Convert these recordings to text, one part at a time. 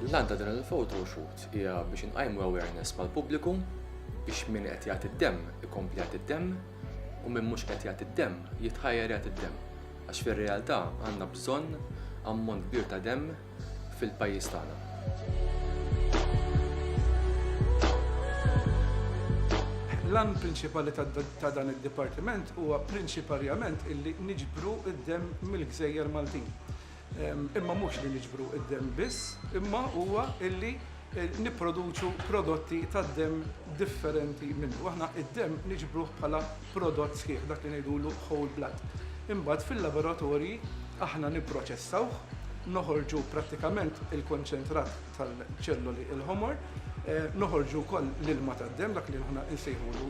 L-għan ta' din il-photo shoot hija biex inqajmu awareness mal-pubbliku biex min qed jagħti d-demm ikompli jagħti d-demm u min mhux qed jagħti d-demm jitħajjar jagħti d-demm. Għax fir-realtà għandna bżonn ammont kbir ta' demm fil-pajjiż tagħna. L-għan prinċipali ta' dan id-dipartiment huwa prinċiparjament illi niġbru d-demm mill-gżejjer Maltin. Imma mhux li niġbru d-demm biss, imma huwa illi nipproduċu prodotti tad-demm differenti minnu. Aħna id-demm niġbruh bħala prodott sħiħ, dak li ngħidulu whole blood. Imbagħad fil-laboratorji aħna nipproċessawh, noħorġu prattikament il-konċentrat tal-ċelloli l-ħomor, noħorġu wkoll l-ilma tad-demm, dak li aħna nsejħulu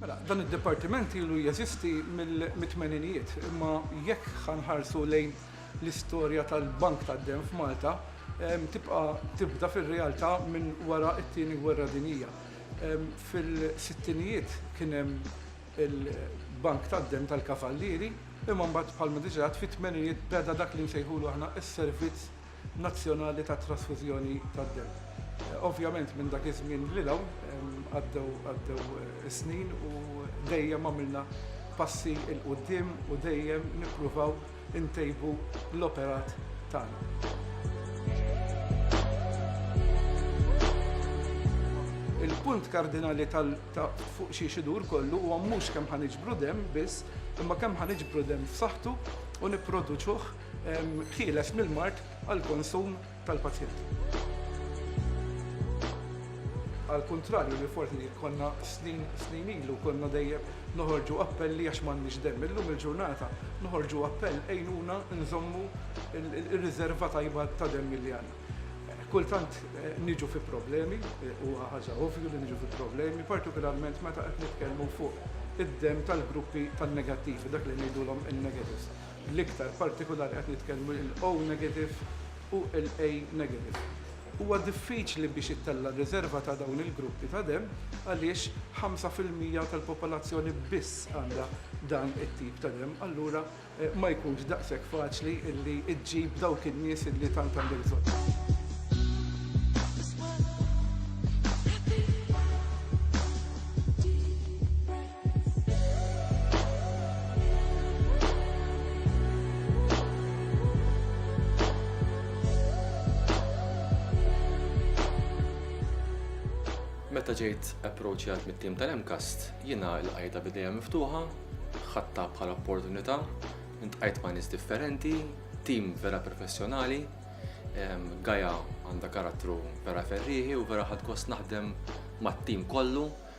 Mela, dan id-dipartiment ilu jeżisti mill-tmeninijiet, imma jekk ħa nħarsu lejn l-istorja tal-Bank tad-Demm f'Malta, tibqa' tibda fir-realtà minn wara t-Tieni Gwerra Dinjija. Fil-sittinijiet kien hemm il-Bank tad-Demm tal-Kavallieri, imma mbagħad bħalma diġà għedt fit-tmeninijiet beda dak li nsejħulu aħna s-servizz nazzjonali ta' trasfużjoni tad-demm. Ovvjament minn dak iż-żmien lil hawn għaddew għaddew is-snin u dejjem għamilna passi 'l quddiem u dejjem nippruvaw intejbu l-operat tagħna. Il-punt kardinali ta' fuq xiex idur kollu huwa mhux kemm ħa niġbru demm biss, imma kemm ħa niġbru demm f'saħħtu u nipproduċuh ħieles mill-mard għall-konsum tal-pazjent. Għall-kuntrarju li forsi konna snin snin ilu konna dejjem noħorġu appelli għax m'għandniex demm. Illum il-ġurnata noħorġu appell għejnuna nżommu r-riżerva tajba ta' demm li għandna. Kultant eh, niġu fi problemi, eh, u ħaġa ovvju li niġu fi problemi, partikolarment meta qed nitkellmu fuq id-dem tal-gruppi tan-negattivi, dak li ngħidulhom in-negatives. bl-iktar partikulari qed nitkellmu il-O negative u l-A negative. Huwa diffiċli biex ittella' riżerva ta' dawn il-gruppi ta' demm għaliex ħamsa fil-mija tal-popolazzjoni biss għandha dan it-tip ta' demm, allura ma jkunx daqshekk faċli li ġġib dawk in-nies li tant għandek bżonnhom. Meta ġejt approachjat mit-tim tal-Emcast, jiena l-qajda bidejja miftuħa, ħatta bħala opportunità, intqajt ma' nies differenti, tim vera professjonali, Gaja għandha karattru vera ferriħi u vera ħad gost naħdem mat-tim kollu,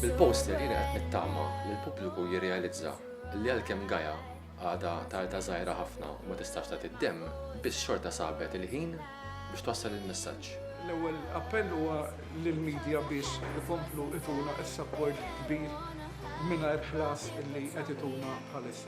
Bil-poster jien qed nittama li l-pubbliku jirrealizza li għalkemm Gaja għadha tarda żgħira ħafna u ma tistax tagħti d-demm, biss xorta sabet il-ħin biex twassal il-messaġġ. L-ewwel appell huwa lill-medja biex ikomplu ituna s-sapport kbir mingħajr ħlas li qed ituna bħalissa.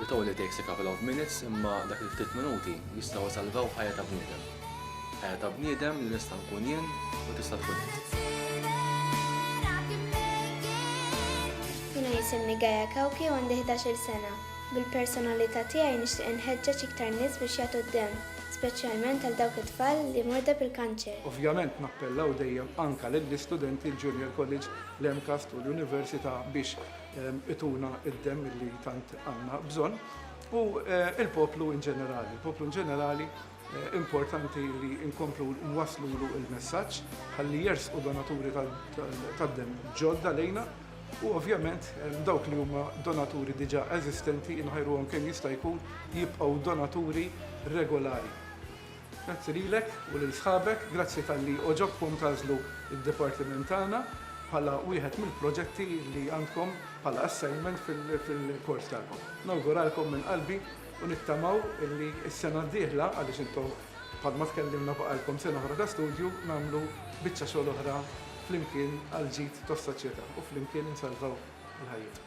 It only takes a couple of minutes imma dak il-ftit minuti jistgħu jsalvaw ħajja ta' bniedem. Ħajja ta' bniedem li nista' nkun jien u tista' tkun int. Jiena jisimni Gaia Cauchi u għandi ħdax-il sena. Bil-personalità tiegħi nixtieq inħeġġeġ iktar nies biex jagħtu d-demm, speċjalment għal dawk it-tfal li morda bil-kanċer. Ovvjament nappellaw dejjem anke lill-istudenti l-Junior College, l-MCAST u l-Università biex Ituna id-demm illi tant għandna bżonn u l-poplu in ġenerali. Il-poplu in ġenerali importanti li nkomplu nwaslulu il-messaġġ ħalli jersqu donaturi tad-demm ġodda lejna u ovvjament dawk li huma donaturi diġà eżistenti inħajruhom kemm jista' jkun jibqgħu donaturi regolari. Grazzi lilek u lil sħabek, grazzi talli għoġobkom tagħżlu d-dipartiment tagħna bħala wieħed mill-proġetti li għandkom bħala assignment fil-kors tagħkom. Nawguralkom minn qalbi u nittamaw li s-sena d-dieħla, għaliex intom bħalma tkellimna baqgħalkom sena oħra ta' studju, nagħmlu biċċa xogħol oħra flimkien għall-ġid tas-soċjetà u flimkien insalvaw il-ħajjiet.